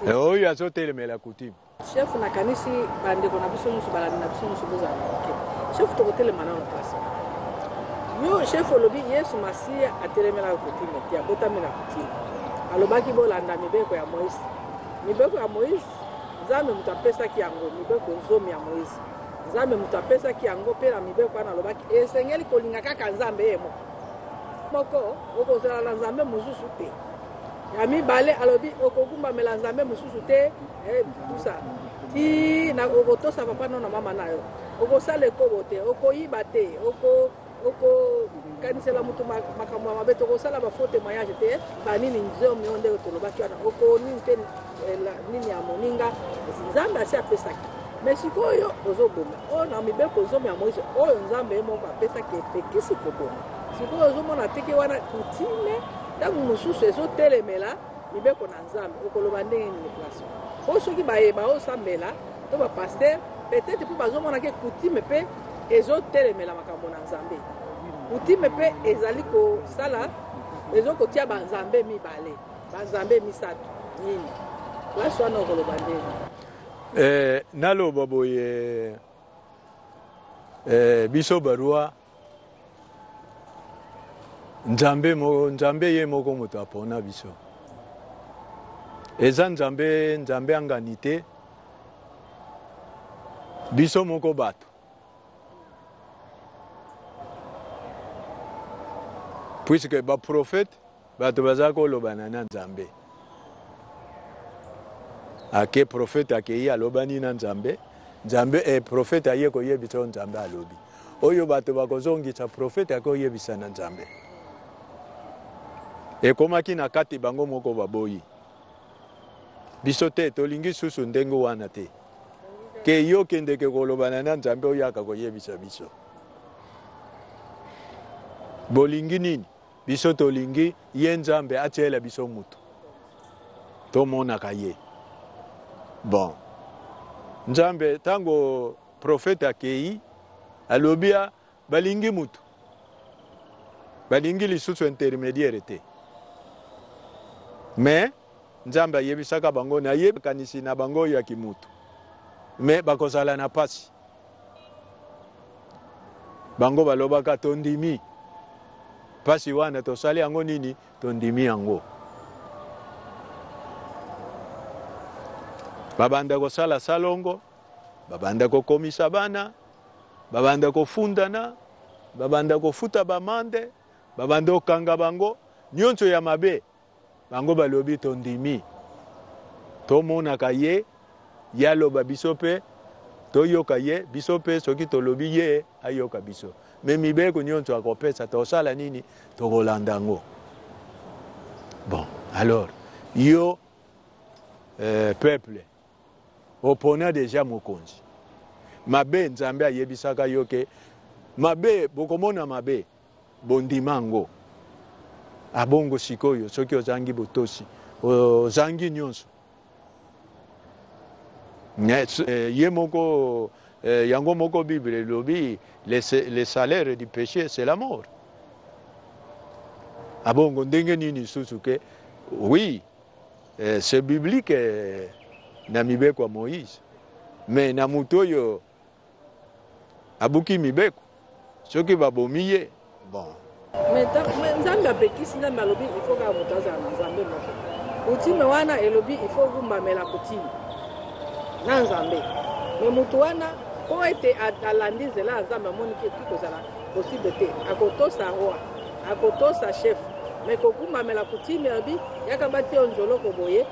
Eh, oyo azotelemela coutume chef nakanisi bandeko na biso nyonso balandi na biso nyonso bozala moke chef tokotelema nano place yo chef olobi yesu masiya atelemelaka kotime te abotami na kotime alobaki bolanda mibeko ya moïse mibeko ya moïse nzambe moto apesaki yango mibeko zomi ya moïse nzambe moto apesaki yango mpe na mibeko wana alobaki esengeli kolinga kaka nzambe ye moko moko okozala na nzambe mosusu te Ya mibale alobi okogumbamela nzambe mosusu te eh, tusa ti na okotosa papa no na mama na yo okosala ekobo te okoyiba te oko okokanisela moto makambo ya mabe tokosala bafaux témoignage te banini nzomi oyo ndenge tolobaki wana okonini te eh, nini ya moninga nzambe asi apesaki me sikoyo ozoboma oyo oh, na mibeko nzomi ya moise oyo nzambe ye moko apesaki epekisi koboma sikoyo ozomona teke wana kutime Ntango mosusu ezotelemela mibeko na Nzambe, okoloba ndenge nini place po soki baye baosambela to bapaster peut-être mpe bazomona ke kutime mpe ezotelemela makambo na Nzambe. Kutime mpe ezali kosala ezo kotia banzambe mibale banzambe misato nini place wana okoloba ndenge eh, naloba boye eh, biso barua nzambe moko nzambe ye moko moto apona biso eza nzambe nzambe angani te biso moko bato puisque baprofete Bato baza ko lobana na nzambe ake prophète akeyi alobani na nzambe nzambe eh, prophète aye koyebisa oyo nzambe alobi oyo bato bakozongisa prophète ake oyebisa na nzambe ekomaki na kati bango moko baboyi biso te tolingi susu ndenge wana te ke yo kendeke kolobana na nzambe oyaka koyebisa biso bolingi nini Biso tolingi ye Nzambe atiela biso mutu. Tomonaka ye. Bon. Nzambe tango prophète akeyi alobi a balingi mutu. Balingi lisusu intermediaire te. Mais Nzambe ayebisaka bango na ye makanisi na bango ya kimutu. Mais bakozala na pasi. bango balobaka tondimi mpasi wana tosali yango nini tondimi yango babanda kosala salongo babanda kokomisa bana babanda kofundana babanda kofuta bamande babanda kokanga bango nyonso ya mabe Bango balobi tondimi tomonaka ye ye aloba biso mpe toyoka ye biso mpe soki tolobi ye ayoka biso me mibeko nyonso akopesa tosala nini tokolanda yango bon alors yo euh, peuple opona deja mokonzi mabe nzambe ayebisaka yo ke mabe bokomona mabe Bondima yango. Abongo sikoyo soki ozangi botosi, ozangi nyonso. Eh, ye moko eh, yango moko bible elobi le salaire du péché c'est la mort abongo ah ndenge nini lisusu ke oui eh, c'est biblique na mibeko ya moïse mais na moto oyo abuki mibeko soki babomi ye bon nzambe apekisi nzambe alobi ifo kaka moto azala na nzambe moko kutime wana elobi ifo okumbamela kutime na nzambe me moto wana mpo ete alandi nzela ya nzambe amoniki ekoki kozala posible te akotosa roi akotosa chef me kokumbamela kutime alobi yaka batiyo nzoloko boye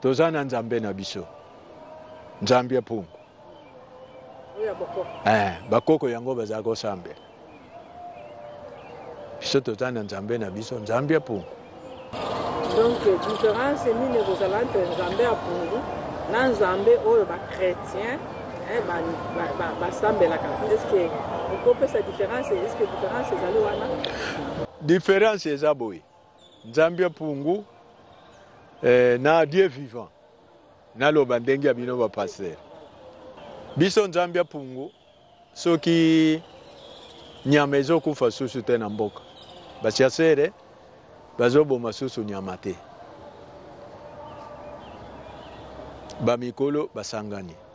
Toza na Nzambe na biso. Nzambe ya mpungu. Eh, bakoko yango bazalaka kosambela. Biso toza na Nzambe na biso, Nzambe ya mpungu. Donc différence nini ekozala entre Nzambe ya mpungu na Nzambe oyo ba chrétiens eh, basambelaka ba, ba, ba est ce que okopesa différence est ce que différence ezali wana différence eza boye Nzambi ya Pungu eh, na Dieu vivant naloba ndenge ya bino ba pasteur biso Nzambi ya Pungu soki nyama ezokufa susu te na mboka basiasere bazoboma susu nyama te bamikolo basangani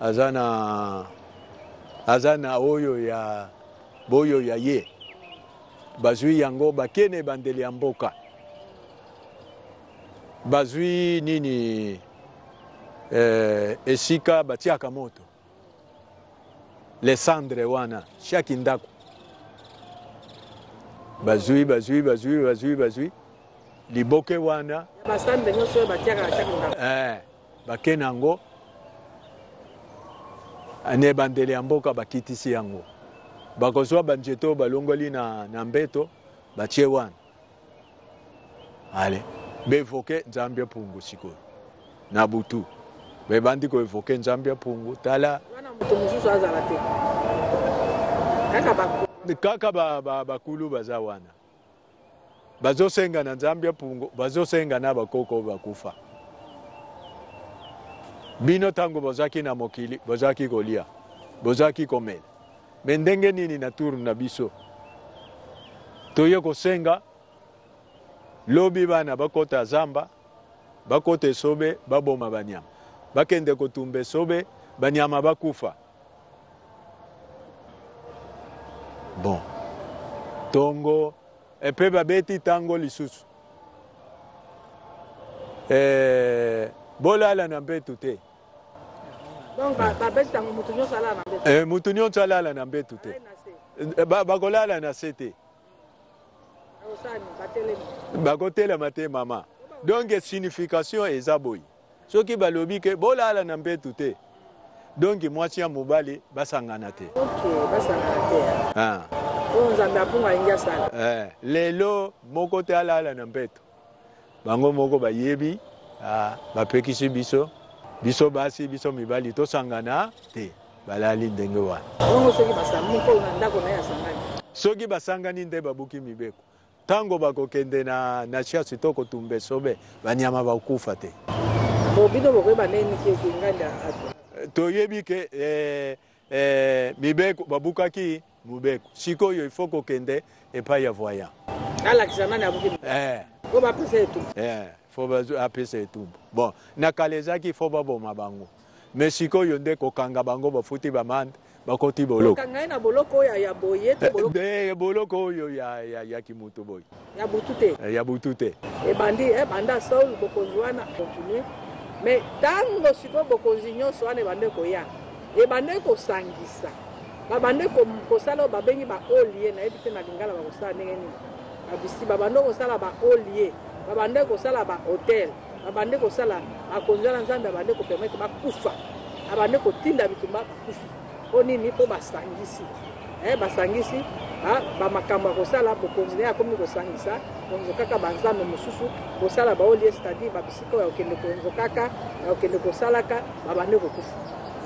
Aza na aza na oyo ya boyo ya ye bazwi yango bake na ebandeli ya mboka bazwi nini eh, esika batiaka moto lesandre wana shaki ndako bazwi bazwi bazwi bazwi bazwi liboke wana eh. Bake na yango na ebandeli ya mboka bakitisi yango, bakozwa banzete oyo balongoli na, na mbeto batie wana ale bevoke nzambi ya pungu sikoyo na butu bebandi koevoke nzambi ya pungu tala kaka bakulu baza wana bazosenga na nzambe ya pungo bazosenga na bakoko bakufa bino ntango bozalaki na mokili bozalaki kolia bozalaki komela me ndenge nini na tour na biso toye kosenga lobi bana bakota zamba bakota esobe baboma banyama bakende kotumba esobe banyama bakufa Bon. Tongo epe babeti tango lisusu. Eh, bolala na mbetu te. Donc ba ba beti tango mutu nyonso alala na mbetu. Eh, mutu nyonso alala na mbetu te. Eh, ba bakolala na se te. Bakotelema te mama. Donc signification eza boye. soki balobi ke bolala na mbetu te donki mwasi ya mobali basangana te ah. eh, lelo moko te alala na mbetu bango moko bayebi ah, bapekisi biso biso basi biso mibali tosangana te balali ndenge wana soki basangani nde babuki mibeko Tango bakokende na na chasse to kotumba esobe, banyama bakokufa te. Bo bino bokoyeba ndenge nini ke ke nganda ato? Toyebi ke eh, eh, mibeko babukaki mobeko, sikoyo il faut kokende epai ya voyant alakisa nani abuki eh. po bapesa etumbu eh, fo apesa etumbu bon na kala ezalaki fo baboma bango mais sikoyo nde kokanga bango bafuti bamande bakoti boloko kokanga ye na boloko oyo ya boye to eh, boloko eh, eh, boloko oyo ya ya ya kimutu boye ya butu te ya butu te ebandi eh banda Saul bokonzi wana continue mais tango sikoyo bokonzi nyonso wana ebande koya ebande kosangisa babande kosala oyo babengi ba olie nayebi te na lingala bakosala ndenge nini babisi babande kosala ba olie babande kosala ba hotel abande kosala makonzi wana nzambe abande kopermetre bakufa abande kotinda bitumba bakufi mpo nini mpo basangisi eh, basangisi bamakambo ya kosala bokonzi naye akomi kosangisa konzokaka banzambe mosusu kosala baolie cetadire babisika ya kokende konzokaka ya kokende kosalaka babande kokufa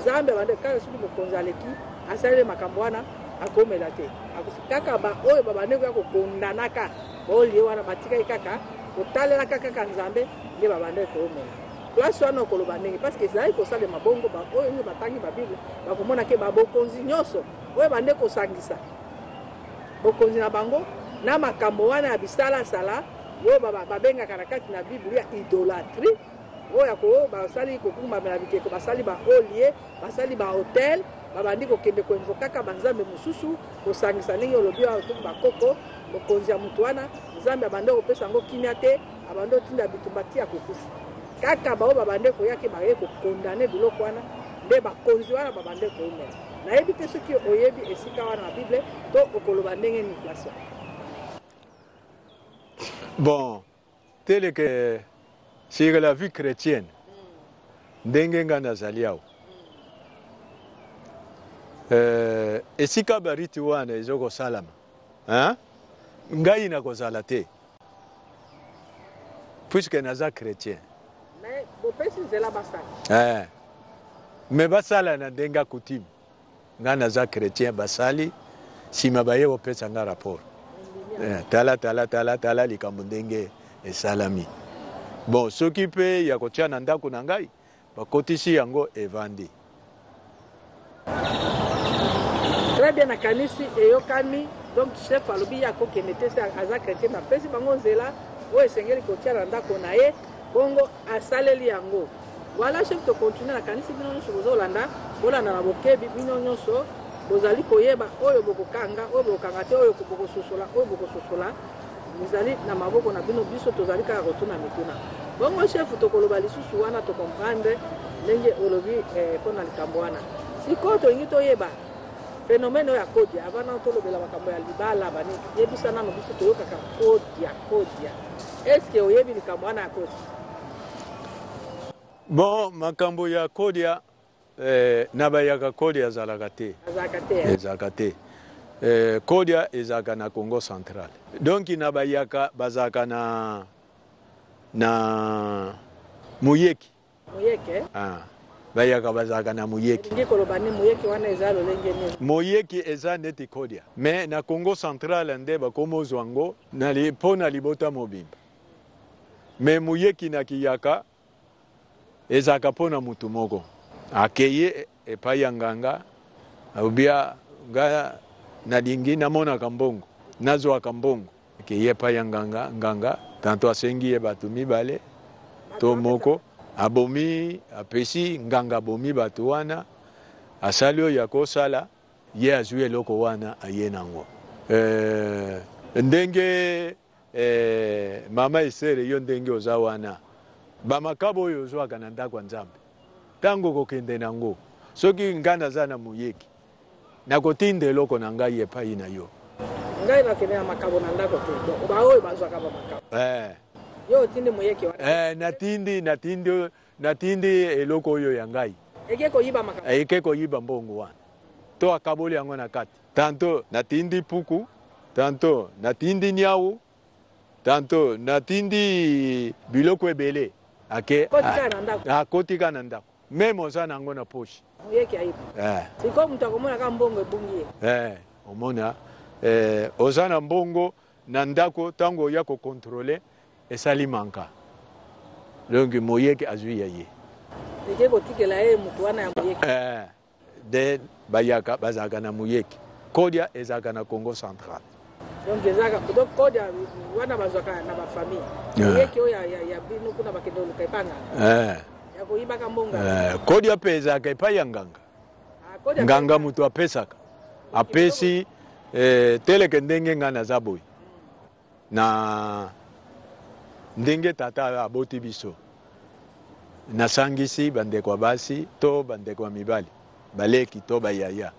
nzambe abande kaka soki mokonzi aleki asaleli makambo wana akomela te akufi kaka baoyo babande koya kokondanaka olie wana batikaki kaka kotalelaka kaka nzambe nde babandaki koomela place wana okoloba ndenge parce que ezalaki kosalema bongo baoyo nde batangi babible bakomona ke babokonzi nyonso oyo bande kosangisa bokonzi na bango na makambo wana ya bisalasala oyo babengaka na kati na biblia idolatrie oyo basali kokumbamela bikeko basali baolie Basali ba hotel babandi kokende koinvokaka banzambe mosusu kosangisa ndenge olobi oyo soki bakoko mokonzi ya moto wana nzambe abandi kopesa yango kimia te abandi otinda bitumba ti ya kokufa kaka baoyo babande koyaki baye kokondane biloko wana nde bakonzi wana babande koumela nayebi te soki oyebi esika wana na bible to okoloba ndenge nini place bon tele ke sur la vie chrétienne ndenge ngai nazali awa eh, esika bariti wana ezo kosalama ngai nakozala te puiske naza chrétien mais bopesi nzela basala eh. mais basala na ndenge ya coutume Nga naza chretien basali sima baye kopesa nga rapport eh, tala tala tala tala likambo ndenge esalami bon soki mpe ya kotia na ndako na ngai bakotisi yango evandi très bien nakanisi eyokami donc chef alobi ye akokende te aza chrétien napesi bango nzela oyo esengeli kotia na ndako na ye bongo asaleli yango voilà chef to continue na kanisi bino nyonso bozolanda bolanda na bokebi bino nyonso bozali koyeba oyo bokokanga oyo bokokanga te oyo bokososola oyo bokososola ezali na maboko na bino biso tozali kaka kotuna mituna bongo chef tokoloba lisusu wana tocomprendre ndenge olobi eh, mpo na likambo wana sikoyo tolingi toyeba phénomène oyo ya kodia avant nano tolobela makambo ya libala bani yebisa nano biso toyokaka kodia kodia Est-ce que oyebi likambo wana ya Kodia? Bon, makambo ya Kodia eh, na bayaka Kodia azalaka te. Azalaka te. Eh? Ezalaka te. Eh, Kodia ezalaka na Congo central. Donc na bayaka bazalaka na na Muyeki. Moyeke. Ah. Bayaka bazalaka na moyeke. Elingi koloba ni moyeke wana eza lolenge nini? Moyeke eza neti kodia. Mais na Congo central nde bakomozwa ngo na li, po na libota mobimba. Mais moyeki na kiyaka ezalaka po na mutu moko. Akeyi epai ya nganga, obia nga nalingi namonaka mbongo, nazwaka mbongo. Akeyi epai ya nganga, nganga tanto asengi ye bato mibale to moko, abomi, apesi nganga, abomi bato wana, asali oyo akosala, ye azwi eloko wana aye nango. Ee, ndenge ee, mama Estere, yo ndenge oza wana, ba makabo oyo ozwaka na ndako ya Nzambe, tango okokende nango, soki nga naza na moyeki, Nakotinda eloko na ngai epai na yo. Ngai nakende na makabo na ndako te. Donc baoyo bazwaka ba makabo. Eh. Yo otindi moyeke wana. Eh, natindi natindi natindi eloko oyo ya ngai. Eke koyiba makabo. Eh, eke koyiba mbongo wana. To akaboli yango na kati. Tanto natindi puku, tanto natindi nyau, tanto natindi biloko ebele. Ake. Kotika ah, na ndako. Akotika ah, na ndako. Meme oza na yango na poche. Muyeke ayebi. Eh. Sikoyo moto akomona kaka mbongo ebungi ye. Eh, omona eh, oza na mbongo na ndako ntango oya kokontrole esali manka donc moyeke azwi ya ye eke kotikela ye moto wana ya moyeke eh, de bayaka bazalaka na moyeke kodia ezalaka na congo central donc ezaka donc code ya wana bazwaka na ba famille ah. yeke oyo ya bino kuna bakende oluka epa nganga eh. ya koyibaka mbonga eh, code ya mpe ezalaka epai ya nganga ah, nganga moto apesaka apesi eh, teleke ndenge ngai naza boye na ndenge tata aboti biso nasangisi bandeko ya basi to bandeko ya mibali Baleki to ba yaya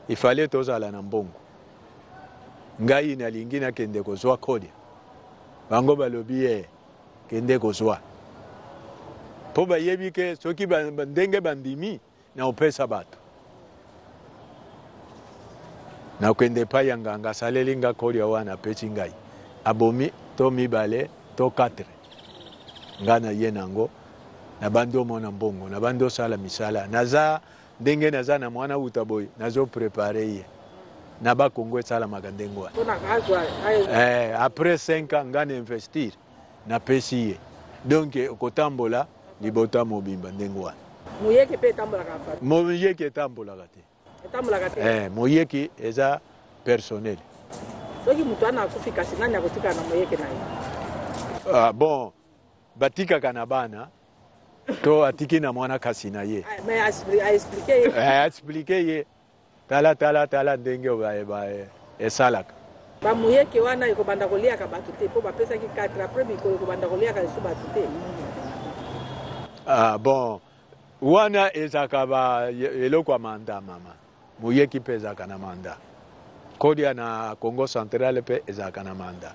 il fallait tozala na mbongo. Ngai nalingi nakende kozwa kolia, bango balobi ye eh, kende kozwa mpo bayebi ke soki ba, ba, ndenge bandimi na opesa bato nakende epai ya nganga asaleli nga kolia wana apesi ngai abomi to mibale to 4 ngai na ye nango na bandi omona mbongo na bandi osala misala naza ndenge naza na mwana wuta boye nazo prepare ye na ba Congo esalamaka ndenge wana eh, après 5 ans nga na investir napesi ye donc okotambola libota mobimba ndenge wana moyeke mpe etambolaka moyeke etambolaka te etambolaka te eh, moyeke eza personnel soki moto wana akufi kasi nani akotikala na moyeke na ye ah, bon Batikaka na bana to atiki na mwana kasi na ye aexplike eh, ye tala tala tala ndenge esalaka bamuyeke wana ekobanda koliaka bato te mpo bapesaki 4 apres mikolo ekobanda koliaka lisu bato te ah, bon wana ezalaka eloko ya mandamama Muyeki mpe ezalaka na manda. Kodia na Congo central mpe ezalaka na manda.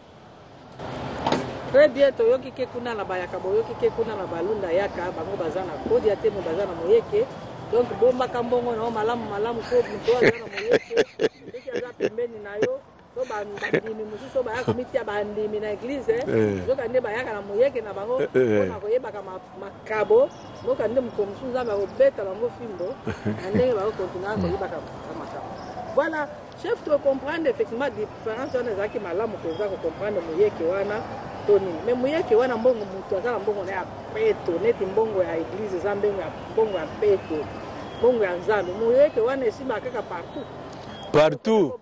Très bien, toyoki ke kuna na bayaka, boyoki ke kuna na balunda yaka, bango baza na kodia te, mais baza na moyeke. Donc bombaka mbongo na yo malamu malamu, ko moto aza na moyeke, soki aza pembeni na yo, to bandimi mosusu baya komitia bandimi na eglize eh. eh. nzoka nde bayaka na moyeke na bango eh, mpona koyebaka makabo nzoka nde mokolo mosusu nzambe akobeta bango fimbo na ndenge bakokontinua hmm. koyebaka makabo voilà chef tocomprendre effectivement différence wana ezalaki malamu koza kocomprendre moyeke wana to nini mais moyeke wana mbongo motu aza na mbongo na ya peto neti mbongo ya eglize eza mbongo ya mbongo ya peto mbongo ya nzambe moyeke wana esimaka kaka partout partout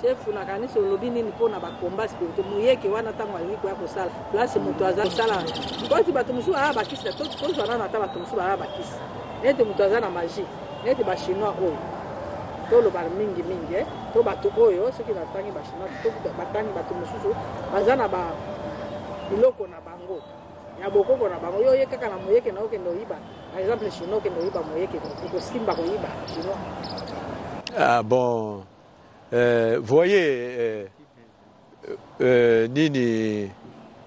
Chef na kanisi olobi nini mpo na bakomba spirito muyeke wana ntango alingi koya kosala place moto aza kosala mpoti bato mosusu aa bakisi tozwa nano ata bato mosusu baa bakisi neti moto aza na magie neti bachinois oyo toloba mingi mingi eh. to bato oyo soki batangi bachinois batangi bato mosusu baza na ba biloko na bango ya bokoko na bango yo oye kaka na moyeke na okende oyiba par exemple chinois okende oyiba moyeke ekosimba koyiba chinois ah bon Eh, voyez eh, eh, nini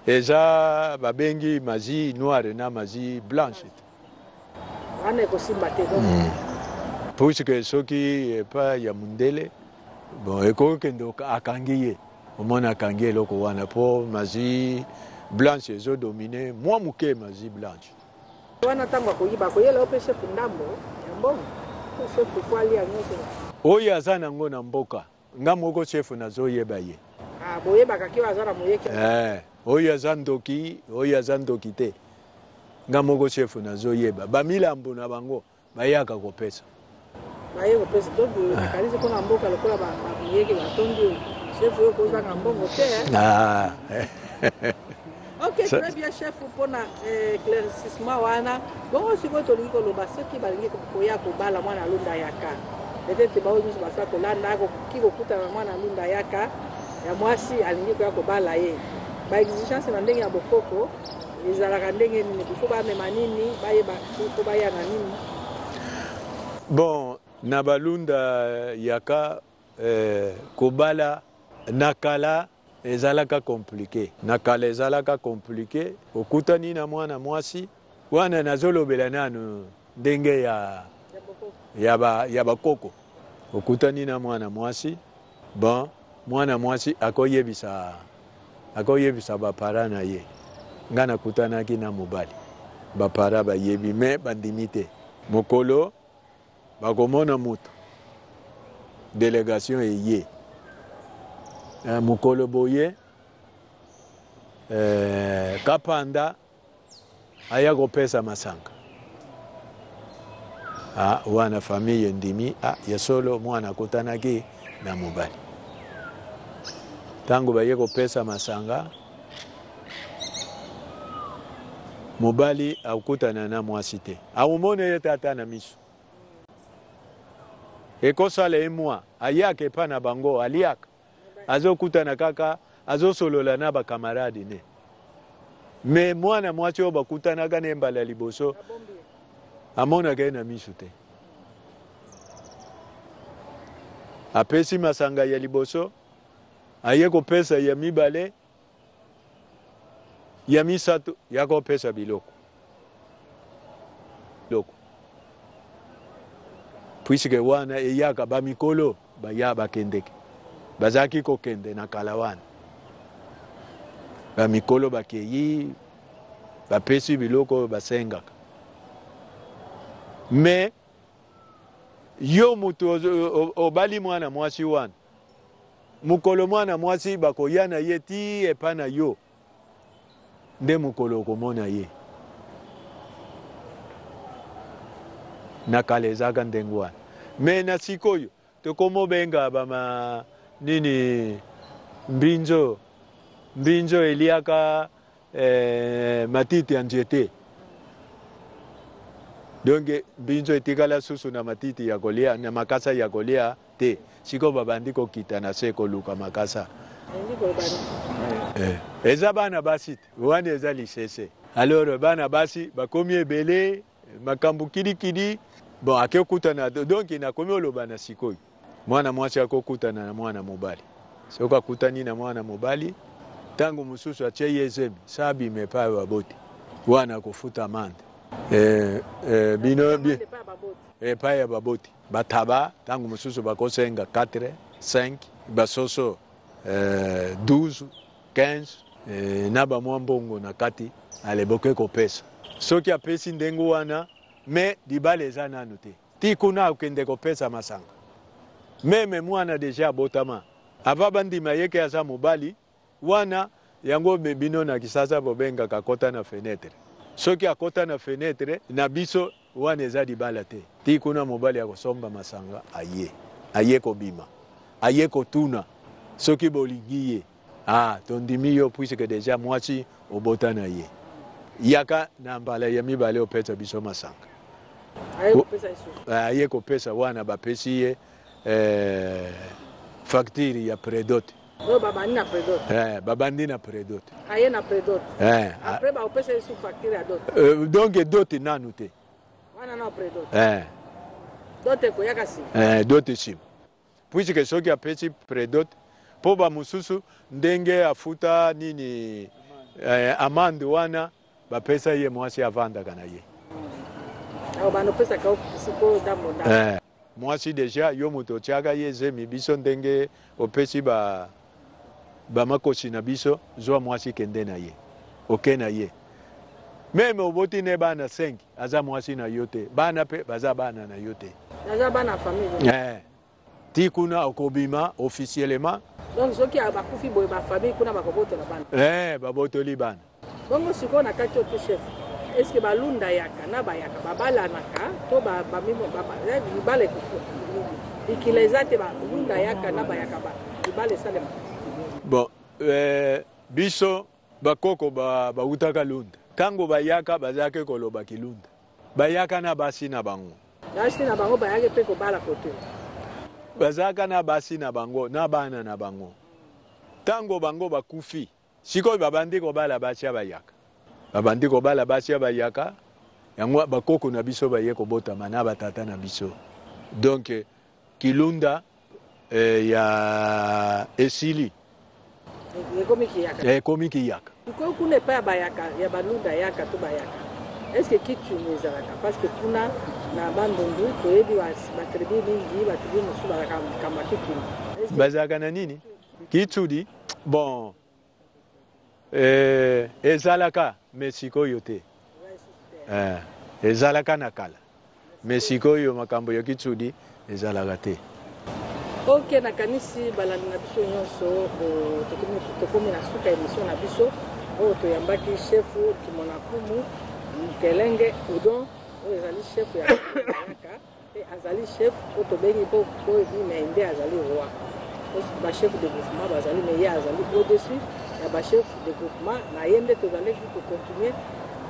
eza babengi mazi noire na mazi blanche wana ekosimba te hmm. puisque soki epa ya mundele bon ekoki kende akangi ye omona akangi eloko wana mpo mazi blanche ezodomine mwa moke mazi blanche Wana tango akoyiba akoyela yo pe chef ndambo ya mbongo po chef il faut alia nioso. Oyo aza na ngo na mboka nga moko chef nazo yeba ye. Ah boyebaka ke oyo aza na moyeke. Eh oyo aza ndoki oyo aza ndoki te nga moko chef nazo yeba ba milambo na bango. bayaka kopesa baye kopesa donc nakanisi mpona mboka lokola babiyeke batondi oyo chef oyo kozanga mbongo te ah. ok très bien chef mpona eh, éclaircissement wana bongo sikoyo tolingi koloba soki balingi koya kobala mwana alunda yaka peut-être baoyo nyonso basala kolanda akoki kokutana mwana alunda yaka ya mwasi alingi koya kobala ye baexigence na ndenge ya bokoko ezalaka ndenge nini il faut bamema nini bayeba il faut baya na nini bon na balunda yaka eh, kobala na kala ezalaka komplike na kala ezalaka komplike okutani na mwana mwasi wana nazolobela nanu ndenge ya, ya bakoko okutani na mwana mwasi Bon, mwana mwasi akoyebisa akoyebisa bapara na ye ngai nakutanaki na mobali bapara bayebi me bandimi te mokolo bakomona moto delegation eye eh, mokolo boye eh, kapanda aya kopesa masanga ah, wana famille endimi ah, ya solo mwana akutanaki na mobali ntango baye kopesa masanga mobali akutana na mwasi te akomona ye tata na miso ekosala ye mwa ayaka epai na bango aliaka azo kutana kaka azo solola na ba camarade ne me mwana mwasi oyo bakutanaka na ye mbala ya liboso amonaka ye na misu te apesi masanga ya liboso aye kopesa ya mibale ya misato ya kopesa biloko loko puisque wana eyaka bamikolo baya bakendeke bazalaki kokende na kala wana bamikolo bakei bapesi biloko oyo basengaka me yo moto obali mwana mwasi wana mokolo mwana mwasi bakoya na ye ti epa na yo nde mokolo okomona ye na kala ezalaka ndenge wana me na sikoyo tokomobenga bama nini mbinzo mbinzo eliaka Eh, matiti ya nzete donc mbinzo etikala susu na matiti ya kolia na makasa ya kolia te sikoyo babandi kokita na se koluka makasa eh. eza bana basi te wana eza lisese alors bana basi bakomi ebele makambo kidikidi bon akekutana donc nakomi oloba na sikoyo mwana mwasi akokutana na mwana mobali soki akutani na mwana mobali ntango mosusu atye ye zemi sa abima epai baboti wana akofuta amande e, eh, e, eh, bino bi, epai ya baboti bataba ntango mosusu bakosenga 4 5 basoso e, eh, 12 15 eh, na ba mwa mbongo na kati ale boke kopesa soki apesi ndenge wana me libala eza nanu te ti kuna akende kopesa masanga meme mwana deja abotama ava bandima yeke aza mobali wana yango me bino na kisasa bobengaka kota na fenetre soki akota na fenetre na biso Wana eza libala te. Ti kuna mobali ya kosomba masanga aye. Aye kobima. Aye kotuna soki bolingi ye. Ah tondimi yo puisque dejà mwasi obota na ye. Yaka na mbala ya mibale opesa biso masanga. Aye kopesa lisusu. Eh, aye kopesa wana bapesi ye eh, facture ya predote. oyo babandi na predot eh, babandi na predot aye na predot eh, après bakopesa ye sous facture ya dot euh, donc dot nanu te wana na predot eh. dot ekoyaka nsima eh, dot nsima puisque soki apesi predot mpo bamosusu ndenge afuta nini eh, amande wana bapesa ye mwasi avandaka na ye eh. Mwasi dejà yo moto otiaka ye zemi biso ndenge opesi ba ba makosi na biso zwa mwasi kende na ye oke na ye meme oboti ne bana 5 aza mwasi na yo te bana pe baza bana na yo te naza bana famille eh ti kuna okobima officiellement donc soki abakufi boye ba famille kuna bakobotola bana eh babotoli bana Bongo sikoyo na kati ote chef eske balunda yaka na bayaka babalanaka to libala ekikila eza te balunda yaka na bayaka libala esalema bon eh, biso bakoko bawutaka ba lunda ntango bayaka bazalaki koloba kilunda bayaka na basi na bango basi na bango bayaki mpe kobala kote bazalaka na basi na bango na bana na bango ntango bango bakufi sikoyo babandi kobala basi ya bayaka babandi kobala basi ya bayaka yango bakoko na biso baye kobotama na batata na biso donc kilunda eh, ya esili ekomi kiyaka ekomi kiyaka sikoyo kuna epai ya bayaka ya balunda yaka to bayaka estce kitune ezalaka parce que kuna na bandundu toyebi batribi mingi batribi mosusu bazalaka makambo ya kitune bazalaka na nini kitsudi Bon eh, ezalaka mais sikoyo te eh, ezalaka na kala mais sikoyo makambo ya kitsudi ezalaka te ok nakanisi balandi na biso nyonso tokomi na suka emission na biso oyo toyambaki chefu kimonakumu mukelenge udon oyo ezali chefu ya yaka Mpe azali chef mpo tobengi mpo boyebi me nde azali roi bachef de groupement bazali me ye azali au-dessus ya bachef de groupement na ye nde tozalaki kocontinue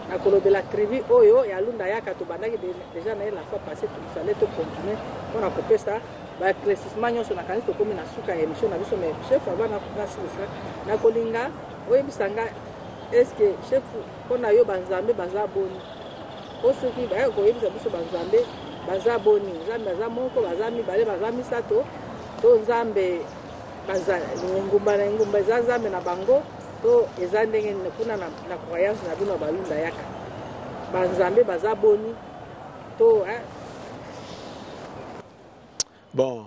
na kolobela tribu oyo ya lunda yaka tobandaki deja na ye la fois passé tofale tocontinue mpo na kopesa baeclaircissement nyonso nakanisi tokomi na suka ya émission na biso me chef ava nasilisa nakolinga oyebisa nga estce chef mpo na yo banzambe baza boni po soki baya koyebisa biso banzambe baza boni nzambe aza moko baza mibale baza misato to nzambe engumba na engumba eza nzambe na bango to eza ndenge kuna na croyance na bino balunda yaka banzambe baza boni to bon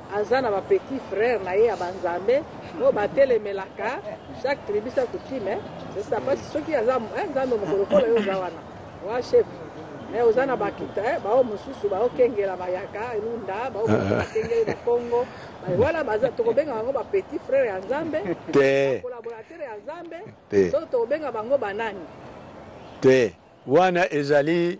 aza na ba petit frère na ye ya banzambe oyo batelemelaka chaque tribu sa coutume sesa mpasi soki aza eh, nzambe mokolo kola yo oza wana wa chef me eh, oza na bakita eh, bao mosusu baokengela bayaka elunda bao mosusu bakengeli na congo wana baza tokobenga bango ba petit frère ya nzambe te collaborateur ya nzambe to tokobenga bango banani te wana ezali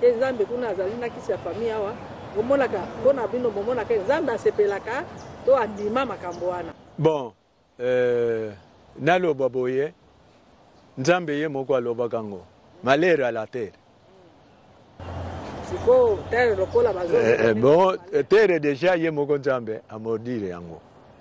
te nzambe kuna azali na kisi ya famille awa bomonaka mpo na bino bomonaka nzambe asepelaka to andima makambo wana bon euh, naloba boye nzambe ye moko alobaka yango malere ala tere sikoyo tere lokola bazo eh, eh, bon tere deja ye moko nzambe amordire yango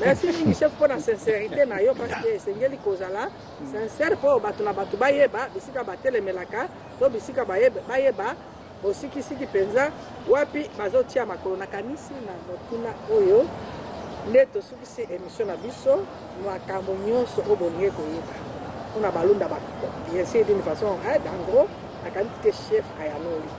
Merci mingi chef mpo na sincerité na yo parce que esengeli kozala sincère mpo bato na bato bayeba bisika batelemelaka to bisika bayeba bosikisiki mpenza wapi bazotia makolo. Nakanisi na motuna oyo nde tosukisi emission na biso, makambo nyonso oyo bolingi koyeba mpo na balunda bien sûr d'une façon en gros, nakanisi te chef ayanoli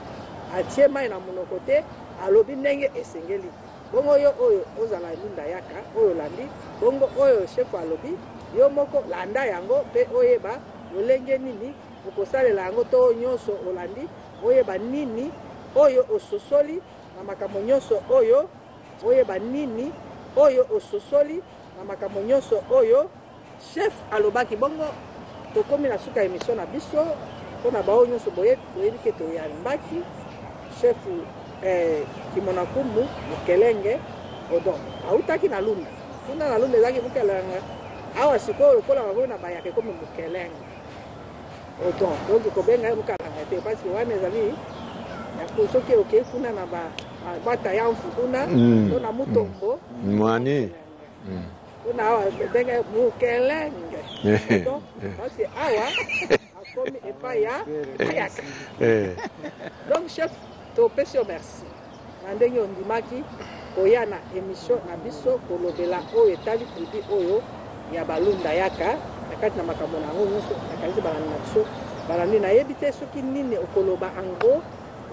atie mai na monoko te alobi ndenge esengeli Bongo yo oyo ozala elunda yaka oyo olandi, bongo oyo shefu alobi, yo moko landa yango mpe oyeba lolenge nini okosalela yango to oyo nyonso olandi, oyeba nini oyo ososoli na makambo nyonso oyo, oyeba nini oyo ososoli na makambo nyonso oyo Chef alobaki bongo tokomi na suka ya emission na biso pona baoyo nyonso boye boyebi ke toyambaki chef eh, kimonakumu mokelenge odon autaki na lunda kuna na lunda ezalaki mokelenge awa sikoyo lokola bakomi na bayaka ekomi mokelenge odon donc kobenga ye mokalanga te parceke wana ezali soki okei kuna na batayamfu kuna to na mutombo mwani kuna awa ndenge mukelenge kasi awa akomi epai ya ayaka donc chef topesi yo merci na ndenge ondimaki koya na émission na biso kolobela oyo etali tribu oyo ya balunda yaka na kati na makambo na yango nyonso nakanisi balandi na biso balandi nayebi te soki nini okoloba ango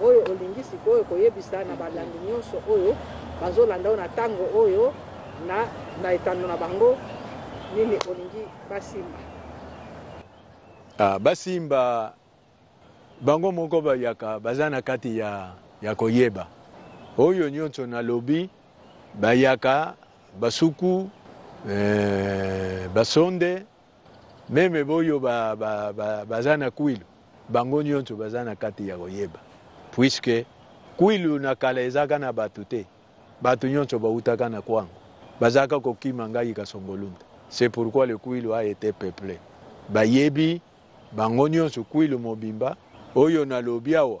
Oyo olingi sikoyo koyebisa na balandi nyonso oyo bazolanda yo na tango oyo na na etando na bango nini olingi basimba? Ah, basimba bango moko bayaka baza na kati ya, ya koyeba oyo nyonso nalobi bayaka basuku eh, basonde Meme boyo ba, ba, ba, baza na kwilu bango nyonso baza na kati ya koyeba, puisque kwilu na kala ezaka na bato te, bato nyonso bautaka na kwango, bazaka kokima ngai kasongolunda. C'est pourquoi le kwilu a été peuple. Bayebi bango nyonso kwilu mobimba oyo nalobi awa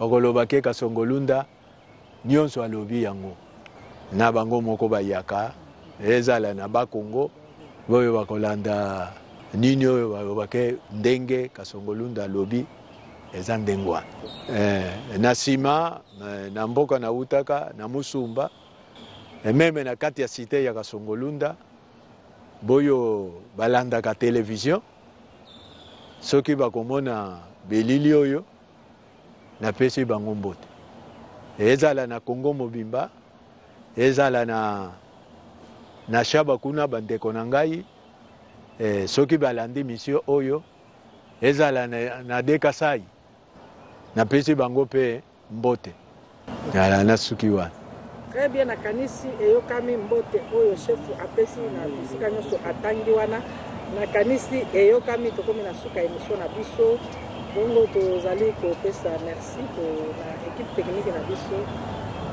Bakoloba ke Kasongo Lunda nionso alobi yango na bango moko bayaka ezala na ba Congo boyo bakolanda nini oyo baloba ke ndenge Kasongo Lunda alobi eza ndenge wana eh, na nsima eh, na mboka na utaka na musumba eh, meme na kati ya site ya Kasongo Lunda boyo balandaka televizio soki bakomona belili oyo napesi bango mbote ezala na kongo mobimba ezala na na shaba kuna bandeko na ngai eh, soki balandi misio oyo ezala na, na dekasai napesi bango mpe Mbote. Yala na suki wa. Très bien na kanisi eyokami mbote oyo chef apesi na bisika nyoso atangi wana na kanisi eyokami tokomi na suka emission na biso bongo tozali kopesa merci ko na équipe technique na biso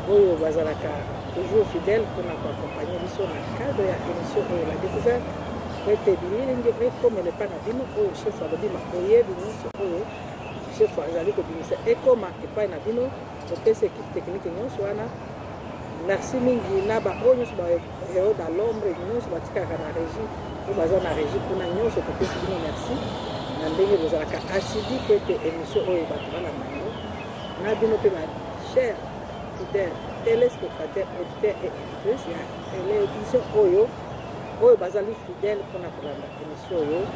oyo bazalaka toujours fidèle mpona koaccompagne biso na cadre ya émission oyo la découverte ete bililingi ekomela epai na bino oyo chef alobi makoyebi nyonso oyo chef azali kobimisa ekoma epai na bino topesi ekipe tekinike nyonso wana merci mingi na baoyo nyonso baeod a lombre nyonso batikalaka na régie oyo baza na régie kuna nyonso topesi bino merci na ndenge bozalaka asidi mpo ete émission oyo bato balanda yango na bino mpe ba cher fidèle téléspectateur auditeur et éditrice ya télévision oyo oyo bazali fidèle mpona kolanda émission Solo,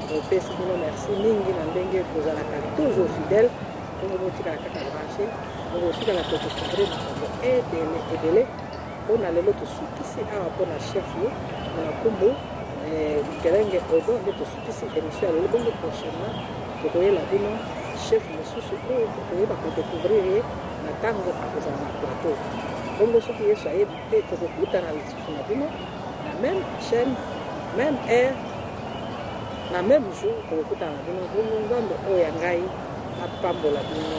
topesi bino merci mingi na ndenge kozalaka toujours fidèle ndenge botikala kaka branche bokotikala kotocouvrir makambo ebele ebele mpo na lelo tosukisi awa mpo na chef yo na kumbu mikelenge eh, odo nde tosukisi émission ya lelo bongo prochainement tokoyela bino chef mosusu oyo tokoyeba kodecouvrir ye na ntango akozala na plateau bongo soki yesu ayebi te tokokutana na bino na meme chaîne meme heure na meme jour tokokutana na bino bongo nzambe oyo ya ngai apambola bino